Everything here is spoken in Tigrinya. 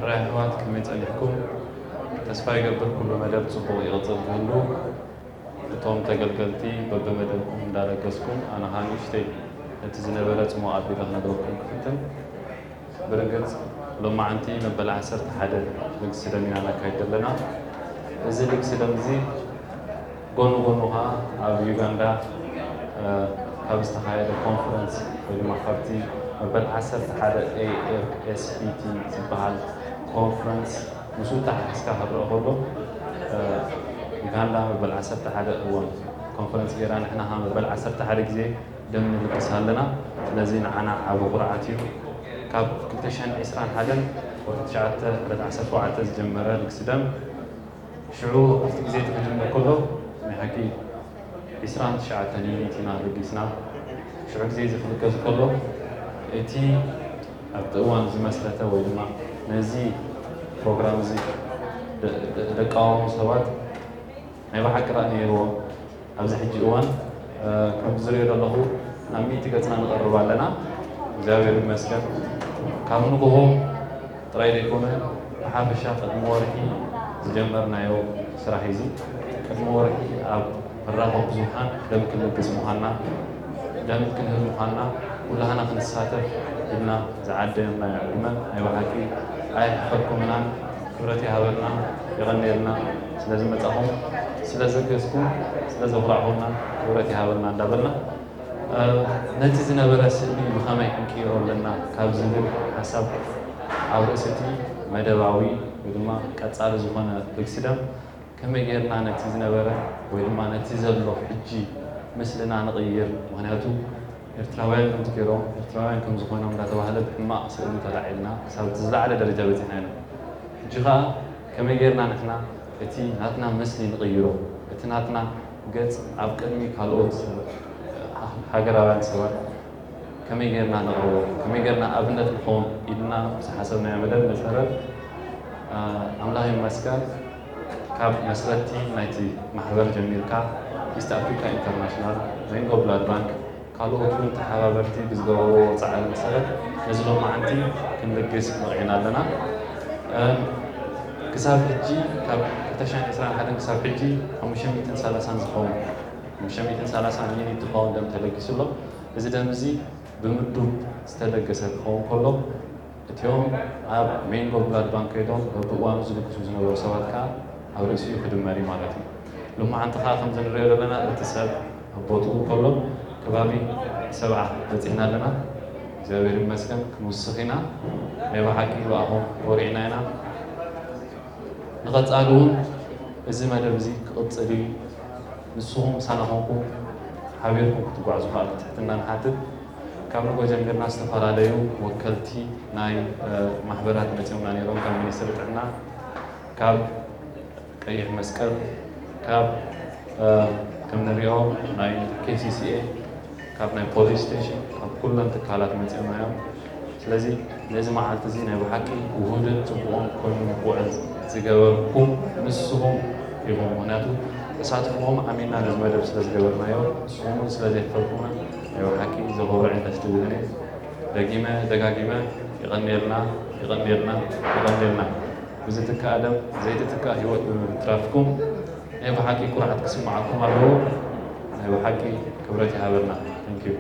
ራ የሕዋት ከመይ ጸኒሕኩም ተስፋ ይገብር ኩሉ መደብ ጽቡቅ ይቅጽል ክህሉ እቶም ተገልገልቲ በብመደብኩም እንዳለገስኩም ኣነ ከኣ ንእሽተይ ነቲ ዝነበረ ጽሙቅ ኣቢለ ክነግረኩም ክፍትን ብርግጽ ሎማዓንቲ መበል ዓሰርተ ሓደ ልግሲ ደም ኢና ነካይድ ዘለና እዚ ልግሲ ደም እዚ ጎኑ ጎኑ ከኣ ኣብ ዩጋንዳ ካብ ዝተኻየደ ኮንፈረንስ ወይ ድማ ካብቲ መበል ዓሰርተ ሓደ AFSPT ዝበሃል ኮንፈረንስ ምስኡ ኣተሓሒዝካ ክረኣ ከሎ ዩጋንዳ መበል ዓሰርተ ሓደ እወን ኮንፈረንስ ገይራ ንሕና ከኣ መበል ዓሰርተ ሓደ ግዜ ደም ንልግስ ኣለና ስለዚ ንዓና ዓቢ ኩርዓት እዩ ካብ ክልተ ሽሕን ዕስራን ሓደን ወርሒ ትሽዓተ ዕለት ዓሰርተ ኣርባዕተ ዝጀመረ ልግሲ ደም ሽዑ ኣብቲ ግዜ እቲ ክጅምር ከሎ ናይ ሓቂ ዕስራን ትሽዓተን ዩኒት ኢና በጊስና። ሽዑ ግዜ እዚ ክብገስ ከሎ እቲ ኣብቲ እዋን ዝመስረተ ወይ ድማ ነዚ ፕሮግራም እዚ ደቃወሙ ሰባት ናይ ብሓቂ ራኢ ነይርዎም። ኣብዚ ሕጂ እዋን ከምቲ ዝሪኦ ዘለኹ ናብ ሚእቲ ገፅና ንቐርብ ኣለና እግዚኣብሔር ይመስገን ካብ ንጉሆ ጥራይ ዘይኮነ ብሓፈሻ ቅድሚ ወርሒ ዝጀመርናዮ ስራሕ እዩ እዚ ቅድሚ ወርሒ ኣብ መራኸቢ ብዙሓን ደም ክንልግስ ምዃንና ደም ክንህብ ምዃንና ኩላህና ክንሳተፍ ኢልና ዝዓደምናዮ ዕድመ ናይ ብሓቂ ኣየሕፈርኩምናን ክብረት ይሃበልና የቐንየልና ስለ ዝመጻኹም ስለ ዘገዝኩም ስለ ዘኹራዕኹምና ክብረት ይሃበልና እንዳበልና ነቲ ዝነበረ ስእሊ ብኸመይ ክንቅይሮ ኣለና ካብ ዝብል ሓሳብ ኣብ ርእሲ እቲ መደባዊ ወይ ድማ ቀጻሊ ዝኾነ ልግሲ ደም ከመይ ጌርና ነቲ ዝነበረ ወይ ድማ ነቲ ዘሎ ሕጂ ምስልና ንቕይር ምኽንያቱ ኤርትራውያን ከምቲ ጌሮም ኤርትራውያን ከም ዝኾኖም እንዳተባህለ ብሕማቕ ስእሊ ተላዒልና ክሳብ እቲ ዝላዓለ ደረጃ በጺሕና ኢና ሕጂ ከኣ ከመይ ጌርና ንሕና እቲ ናትና ምስሊ ንቕይሮ እቲ ናትና ገጽ ኣብ ቅድሚ ካልኦት ሃገራውያን ሰባት ከመይ ጌርና ነቕርቦ ከመይ ጌርና ኣብነት ንኾን ኢልና ምስ ሓሰብናዮ መደብ መሰረት ኣምላኽ ይመስገን ካብ መስረቲ ናይቲ ማሕበር ጀሚርካ ኢስት ኣፍሪካ ኢንተርናሽናል፣ ሪንጎ ብላድ ባንክ ካልኦት እውን ተሓባበርቲ ብዝገበርዎ ፃዕሪ መሰረት ነዚ ሎማዕንቲ ክንልግስ በቒዕና ኣለና። ክሳብ ሕጂ ካብ ክልተ ሽሕን ዕስራን ሓደን ክሳብ ሕጂ ሓሙሽተ ሚእትን ሰላሳን ዝኸውን ሓሙሽተ ሚእትን ሰላሳን ሚኒት ዝኸውን ደም ተለጊሱ ኣሎ። እዚ ደም እዚ ብምዱብ ዝተለገሰ ክኸውን ከሎ፣ እቲኦም ኣብ ሜንጎ ብላድ ባንክ ከይዶም በብእዋኑ ዝልግሱ ዝነበሩ ሰባት ከኣ ኣብ ርእሲኡ ክድመር እዩ ማለት እዩ። ሎማዓንቲ ከኣ ከምዚ ንርእዮ ዘለና እቲ ሰብ ኣብ ቦትኡ ከሎ ከባቢ ሰብዓ በጺሕና ኣለና። እግዚኣብሔር ይመስገን ክንውስኽ ኢና ናይ በሓቂ ብኣኹም ኮሪዕና ኢና። ንቐጻሊ እውን እዚ መደብ እዚ ክቕጽል እዩ ንስኹም ምሳና ኮንኩም ሓቢርኩም ክትጓዕዙ ከኣ ብትሕትና ንሓትት። ካብ ንጎ ጀሚርና ዝተፈላለዩ ወከልቲ ናይ ማሕበራት መፂኦምና ነይሮም፣ ካብ ሚኒስትሪ ጥዕና፣ ካብ ቀይሕ መስቀል፣ ካብ ከም ንሪኦ ናይ KCCA፣ ካብ ናይ ፖሊስ ስቴሽን፣ ካብ ኩለን ትካላት መፂኦምና እዮም። ስለዚ ነዚ መዓልቲ እዚ ናይ ብሓቂ ውሁድን ፅቡቕን ኮይኑ ንክውዕል ዝገበርኩም ንስኹም ኢኹም። ምኽንያቱ ተሳትፍኹም ኣሚንና ነዚ መደብ ስለዝገበርናዮ ንስኹም እውን ስለዘየሕፈርኩምና ናይ በሓቂ ዘኹርዕ ደስ ትብል ን ደጊመ ደጋጊመ የቐንየልና የቐንየልና የቐንየልና ብዝትካእ ደም ዘይትትካእ ሂወት ብምትራፍኩም ናይ በሓቂ ኩርዓት ክስምዓኩም ኣለዎ ናይ በሓቂ ክብረት ይሃበልና Thank you